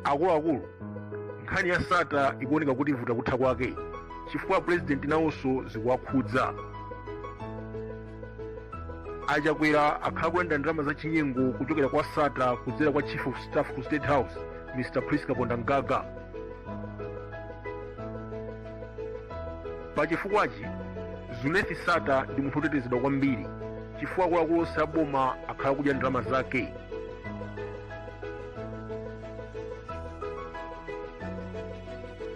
akuluakulu nkhani ya sattar ikuoneka kuti ivuta kutha kwake chifukwa purezidenti nawonso zikuwakhudza a chakwera akhala kulandira ndalama za chinyengo kuchokera kwa sattar kudzera kwa chief of staff ku state house mr prince kapondamgaga pachifukwachi zuneth sattar ndi munthu wotetezedwa kwambiri chifukwa akuluakulu onse a boma akhala kudya ndalama zake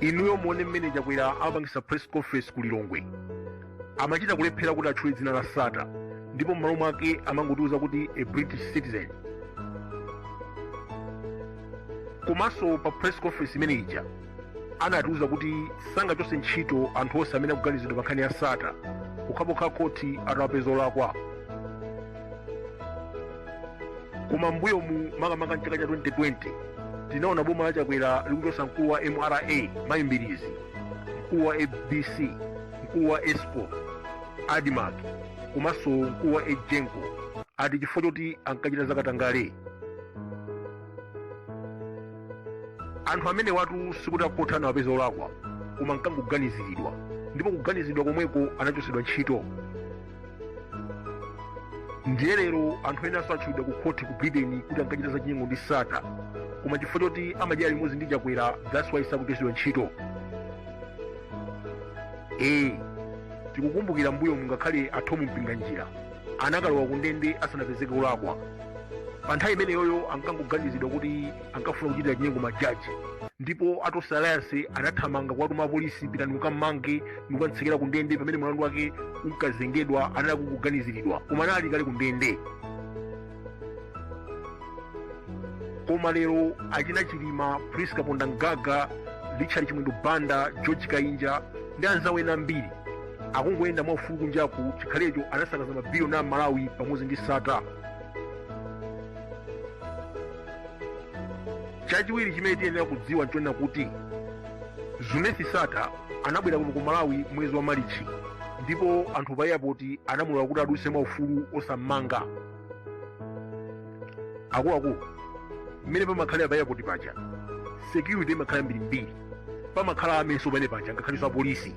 inuyo muone mmene chakwera amapangitsa press conference ku lilongwe amachita kulephera kuti atchule dzina la sattar ndipo m'malo mwake amangotiuza kuti a british citizen komanso pa press conference imene ija anatiuza kuti sangachotse ntchito anthu onse amene akuganizidwa pa nkhani ya sattar pokhapokha akhoti atawapeza olakwa koma mbuyomu makamaka mchaka cha 2020 tinaona boma la chakwera likuchotsa mkulu wa mra mayi mbilizi mkulu wa abc mkulu wa escom admarc komanso mkulu wa egenco ati chifukwa choti ankachita zakatangale anthu amenewatu sikuti akhoti anawapeza olakwa koma ankangoganiziridwa ndipo kuganiziridwa komweko anachotsedwa ntchito ndiye lero anthu ena atchulidwa ku khoti ku britain kuti ankachita zachinyengo ndi sattar koma chifukwa choti amadya limodzi ndi chakwera that's why sakuchotsedwa ntchito ee tikukumbukira mbuyomu ngakhale a thom mpinganjira anakalowa kundende asanapezeke olakwa pa nthawi imeneyoyo ankangoganizidwa kuti ankafuna kuchitira chinyengo majaji ndipo a tonse alliance anathamanga kuwatuma apolisi pitani mukammange ndikukamtsekera ku ndende pamene mlandu wake unkazengedwa anali akuganiziridwa koma anali kale ku ndende koma lero achina chilima prince kapondamgaga richard chimwendo banda george kainja ndi anzawo ena ambiri akungoyenda mwaufulu kunjaku chikhalecho anasakaza mabiliyoni a malawi pamodzi ndi sattar chachiwiri chimene tiyenera kudziwa nchonena kuti zuneth sattar anabwera kuno ku malawi mwezi wa malichi ndipo anthu pa airport anamulola kuti adutse mwaufulu osammanga akuluakulu mmene pamakhalira pa airport paja security imakhala yambirimbiri pamakhala amenso pamene paja ngakhalenso apolisi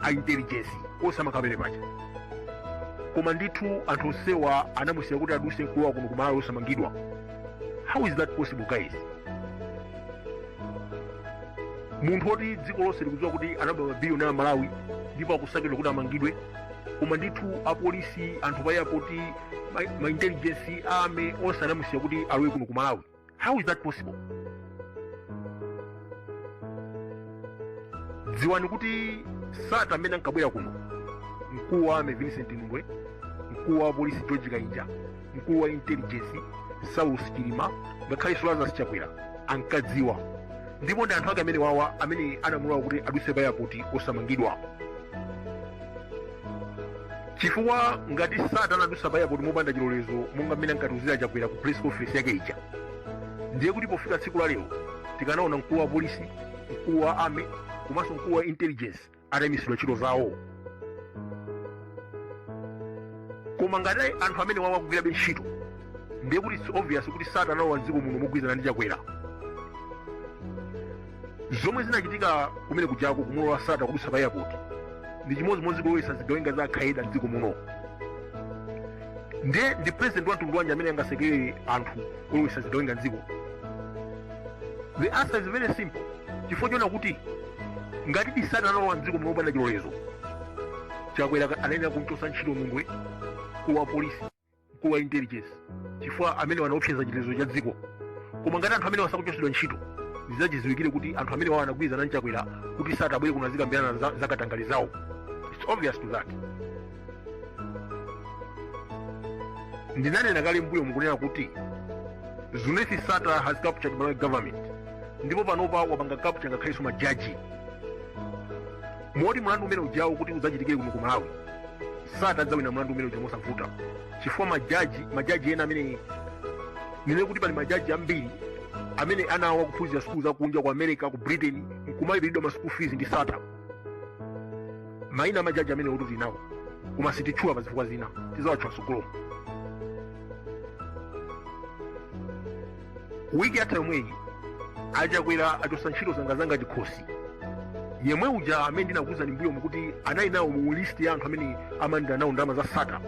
a intelligence onse amakhala pamene paja koma ndithu anthu onsewa anamusiya kuti aduse nkulowa kuno kumalawi osamangidwa how is that possible guys munthu woti dziko lonse likudziwa kuti anaba mabiliyoni a malawi ndipo akusakidwa kuti amangidwe koma ndithu apolisi anthu pa airport ma, ma intelligence army onse anamusiya kuti alowe kuno kumalawi how is that possible dziwani kuti sata mmene ankabwera kuno mkulu wa army vincent nundwe mkulu wa polisi george kainja mkulu wa intelligence saulus chilima ngakhalenso lazarus chakwera ankadziwa ndipo ndi anthu ake amene wawa amene anamulola kuti aduse pa airport osamangidwa chifukwa ngati sata anadusa pa airport mopanda chilolezo monga mmene ankatiuzira chakwera ku press conference yake ija ndiye kuti pofika tsiku la lero tikanaona mkulu wa polisi mkulu wa army komanso mkulu wa intelligence ataimitsidwa ntchito zawo koma ngati anthu amene wawa akugwirabe ntchito ndiye kuti it's obvious kuti sata analowa mdziko muno mogwirizana ndi chakwera zomwe zinachitika kumene kujako kumulola sata kudutsa pa airport ndi chimodzimodzi kulowetsa zigawenga za al qaeda mdziko muno ndiye ndi president wa mtundu wanji amene angasekerere anthu olowetsa zigawenga mdziko the answer is very simple chifukwa chona kuti ngatidi sata analowa mdziko muno mopanda chilolezo chakwera anayenera kumchotsa ntchito nundwe mkulu wa polisi mkulu wa intelligence chifukwa amenewa anaopseza chitetezo cha dziko koma ngati anthu amenewa sakuchotsedwa ntchito ndizachidziwikire kuti anthu amene wawa anagwirizana nchakwera kuti sata abwere kuno azikambirana za- zakatangale zawo its obvious to that ndinanena kale mbuyomu kunena kuti zuneth sata has captured malawi government ndipo panopa wapanga capture ngakhalenso majaji moti mlandu umene ujawo kuti udzachitikire kuno ku malawi sata adzawina mlandu umene uja mosavuta chifukwa majaji majaji ena amene ndinene kuti pali majaji ambiri amene ana awo akuphunzira sukulu za kunja ku america ku britain nkumalipiridwa ma school fees ndi sata maina amajaji amenewotu tinawo koma sititchula pa zifukwa zina tizawatchula mtsogolo wiki yatha yomweyi achakwera achosa ntchito zangazanga chikhosi yemwe uja amene ndinakuwuzani mbuyomu kuti anali nawo mu list ya anthu amene amalandira nawo ndalama za sata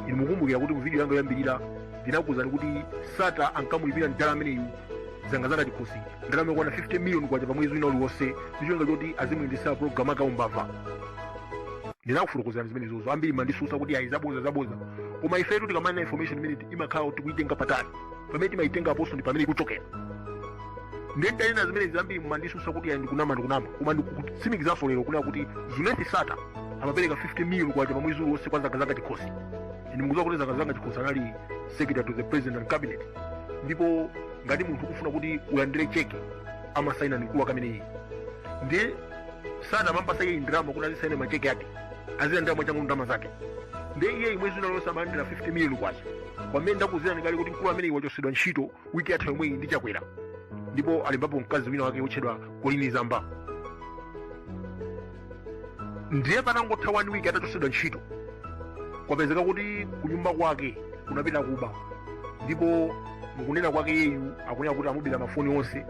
inu mukumbukira kuti mu video yanga yoyambirira ndinakuwuzani kuti sata ankamulipira mdala ameneyu zangazanga chikhosi ndalama yokwana 50 miliyoni kwacha pa mwezi wina uliwonse ndi cholinga choti azimuyendetsera program akaumbava ndinakufotokozerani zimenezozo ambiri amandisusa kuti ayi zaboza zaboza koma ifetu tikamanena information imene imakhala kuti tikuitenga patali pamene timayitenga aponso ndi pamene ikuchokera nde nditanena zimenezi ambiri amandisusa kuti ayi ndikunama ndikunama koma ndikutsimikizaso lero kunena kuti zimenezi sattar amapereka 50 miliyoni kwacha pa mwezi uliwonse kwa zangazanga chikhosi nde mukudziwa kuti zangazanga chikhosi anali secretary to the president and cabinet ndipo ngati munthu ukufuna kuti ulandire cheke amasaina ndi mkulu wake ameneyi ndiye sattar amampasa iye ndalama kuti azisaina macheke ake azilandira mwachangu ndalama zake ndiye iye mwezi wina uliwonse amalandira 50 miliyoni kwacha pamene ndakuuzirani kale kuti mkulu ameneyi wachotsedwa ntchito wiki yatha yomweyi ndi chakwera ndipo alembapo mkazi wina wake wotchedwa colleen zamba ndiye patangotha one week atachotsedwa ntchito kwapezeka kuti kunyumba kwake kunapita akuba ndipo mukunena kwake yeyu akunena kuti amubera mafoni onse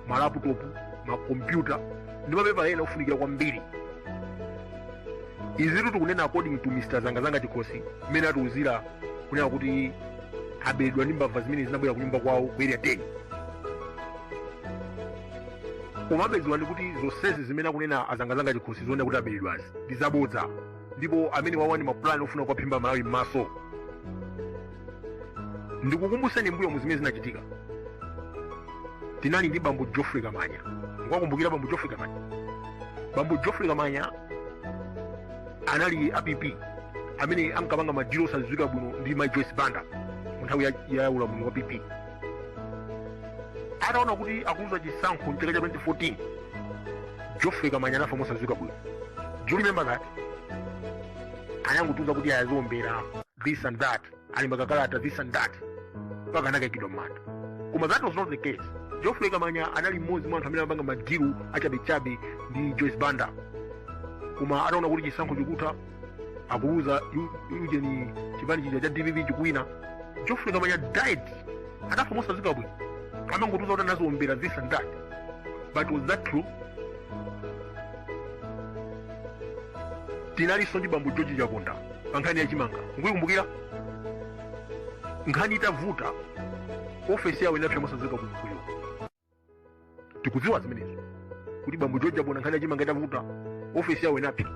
malaputopu makompyuta ndi mapepala ena ofunikira kwambiri izitu tikunena according to mr zangazanga chikhosi mmene atiuzira kunena kuti aberedwa ndi mbava zimene zinabwera kunyumba kwawo ku area 10 komabe dziwani kuti zonsezi zimene akunena azangazanga chikhosi zonena kuti aberedwazi ndi zabodza ndipo amenewawa ndi mapulani ofuna kuwaphimba amalawi m'maso ndikukumbuseni mbuyomu zimene zinachitika tinali ndi bambo geoffrey kamanya mukuwakumbukira bambo geoffrey kamanya bambo geoffrey kamanya anali a pp amene ankapanga madilu osadziwika bwino ndi mai joyce banda mu nthawi ya, ya ulamuliro wa pp ataona kuti akuluza chisankho mchaka cha 2014 geoffrey kamanya anafa mosadziwika bwino do you remember that anangotiuza kuti ayi aziombera this and that alemba kakalata this and that mpaka anakaikidwa mmanda koma that was not the case geoffrey kamanya anali mmodzi mwa anthu amene amapanga madilu achabechabe ndi joyce banda koma ataona kuti chisankho chikutha akuluza ujeni chipani chija cha dpp chikuwina geoffrey kamanya died anafa mosaziwika bwino amangotiuza kuti anaziombera this and that but was that true tinalinso ndi bambo george chaponda pa nkhani ya chimanga mukuyikumbukira nkhani itavuta ofesi yawo inapsa mosaziwika bwino kuyo tikudziwa zimenezo kuti bambo george chaponda nkhani yachimanga itavuta ofesi yawo inapsera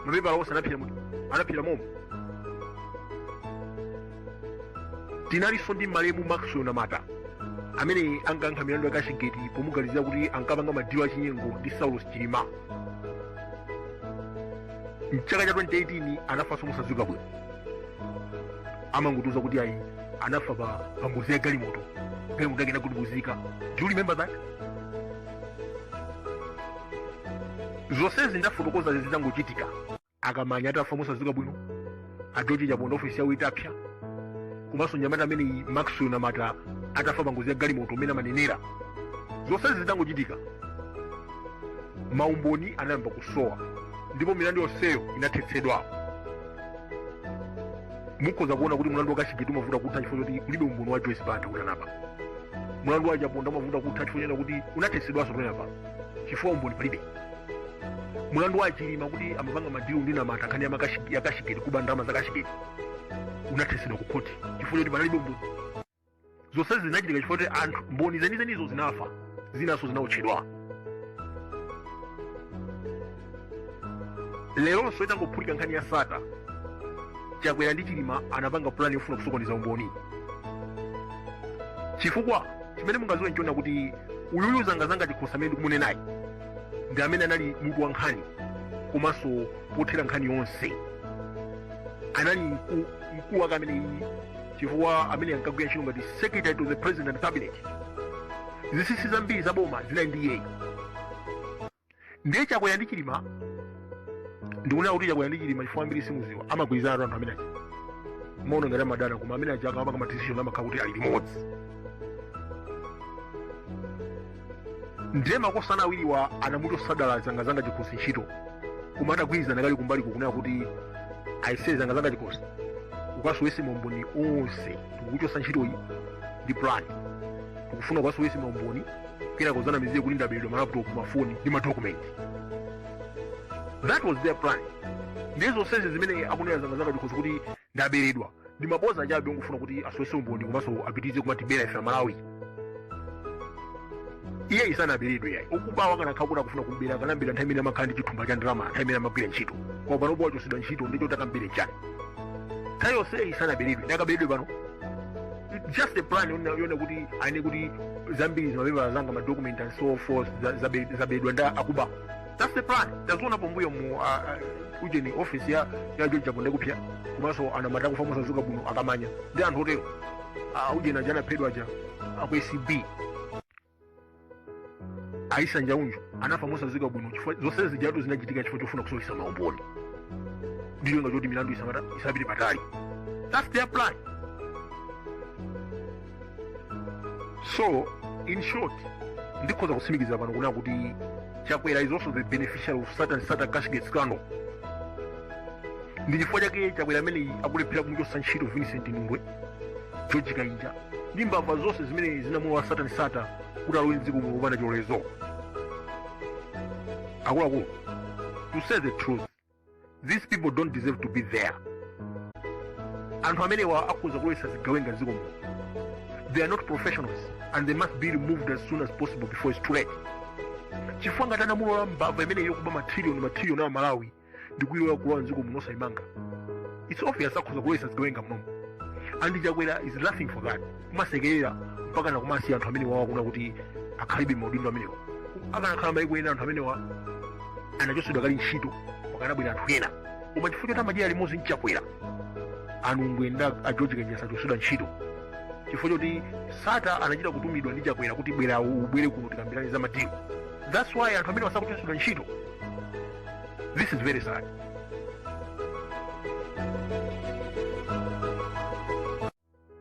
mapepala onse anapsera muti anapsera momo tinalinso ndi malemu maxwell namata amene ankayankha milandu ya kashigeti pomuganizira kuti ankapanga madilu achinyengo ndi saulos chilima mchaka cha 2018 anafanso mosadziwika bwino amangotiuza kuti ayi anafa pa pa ngozi ya galimoto galimoto yake inagudubuzika do you remember that zonsezi ndafotokoza zitangochitika akamanya atafa mosadziwika bwino a George Chaponda ofesi yawo itapsa komanso nyamata ameneyi maxwell namata atafa pa ngozi ya galimoto mmene amanenera zonsezi zitangochitika maumboni anayamba kusowa ndipo milandu yonseyo inathetsedwa mukhoza kuona kuti mlandu wa kashigeti umavuta kutha chifukwa choti kulibe umboni wa joyce banda kuti anaba mlandu wa chaponda umavuta kutha chifukwa chonena kuti unathetsedwanso pamene apa chifukwa umboni palibe mlandu wa chilima kuti amapanga madilu ndi namata nkhani ya makashi- ya kashigeti kuba ndalama za kashigeti unathetsedwa ku khoti chifukwa choti panalibe umboni zonsezi zinachitika chifukwa choti anthu mboni zenizenizo zinafa zinanso zinaotchedwa leronso itangophulika nkhani ya sata chakwera ndi chilima anapanga pulani yofuna kusokoneza umboni chifukwa chimene mungaziwe nchona kuti uyuyu zangazanga chikhosi amene ndikumunenayi ndi amene anali mutu wa nkhani komanso pothera nkhani yonse anali mku- mkulu wake amene chifukwa amene ankagwira ntchito ngati secretary to the president and cabinet zisisi zambiri za boma zinali ndi iyeyi ndiye chakwera ndi chilima ndikunena kuti chakwera ndi chilima chifukwa ambiri simuziwa amagwirizana anthu amene aja mumaona ngati amadana koma amene aja akamapanga ma decision amakhala kuti ali limodzi ndiye makosana awiriwa anamuchotsa dala zangazanga chikhosi ntchito koma atagwirizana kale kumbali nkunena kuti aise zangazanga chikhosi ukasowese maumboni onse tikukuchosa ntchitoyi ndi plan tikufuna ukasowese maumboni kenako uzanamizire kuti ndaberedwa malaptop mafoni ndi madokumenti that was their plan ndiye zonsezi zimene akunena zangazanga chikhosi kuti ndaberedwa ndi maboza chabe ongofuna kuti asowese umboni komanso apitirize kumatibera ife amalawi iyeyu sanaberedwe yayi okubawa akanakhala kuti akufuna kumbera akanambera nthawi imene amakhala ndi chithumba cha ndalama nthawi imene amagwira ntchito koma pano poti wachosedwa ntchito nchoti akambere chani nthawi yonseyi sanaberedwe nde akaberedwe pano just a plan yonena kuti anene kuti zambiri zimapepala zanga madocument and so forth za- zabe- zabedwa ndi akuba that's the plan taziona pambuyo mu uh, uh, ujeni office ya ya george chaponda kupya komanso a namata kufa mosaziwika bwino akamanya ndi anthu otero uh, ujeni aja anaphedwa aja aku acb a issa njaunju anafa mosaziwika bwino chifukwa zonse zijatu zinachitika chifukwa chofuna kusowesa maumboni ndi cholinga choti milandu isapite patali that's their plan so in short ndikhoza kutsimikiza pano kunena kuti chakwera is also the beneficiary of satan sattar cashgate scandal ndi chifukwa chake chakwera ameneyi akulephera kumuchotsa ntchito vincent nundwe george kainja ndi mbava zonse zimene zinamulola satan sattar kuti alowe mdziko muno kupanda chilolezo akuluakulu to say the truth these people don't deserve to be there anthu amenewa akhoza kulowetsa zigawenga ziko muno they are not professionals and they must be removed as soon as possible before it's too late chifukwa ngati anamulola mbava imene iyo kuba matrilioni matrilioni a amalawi ndi kuyilola kulowa mdziko muno osayimanga it's obvious akhoza kulowetsa zigawenga munomo and chakwera is laughing for that kumasekerera mpaka na kumasiya anthu amenewawa kunena kuti akhalebe maudindo amenewa akanakhala maiko ena anthu amenewa anachosedwa kale ntchito pakanabwera anthu ena koma chifukwa choti amadyera limodzi ndi chakwera a nundwe ndi a george kainja sachosedwa ntchito chifukwa choti sattar anachita kutumidwa ndi chakwera kuti bwera ubwere kuno tikambirane za madilu that's why anthu amenewa sakuchosedwa ntchito this is very sad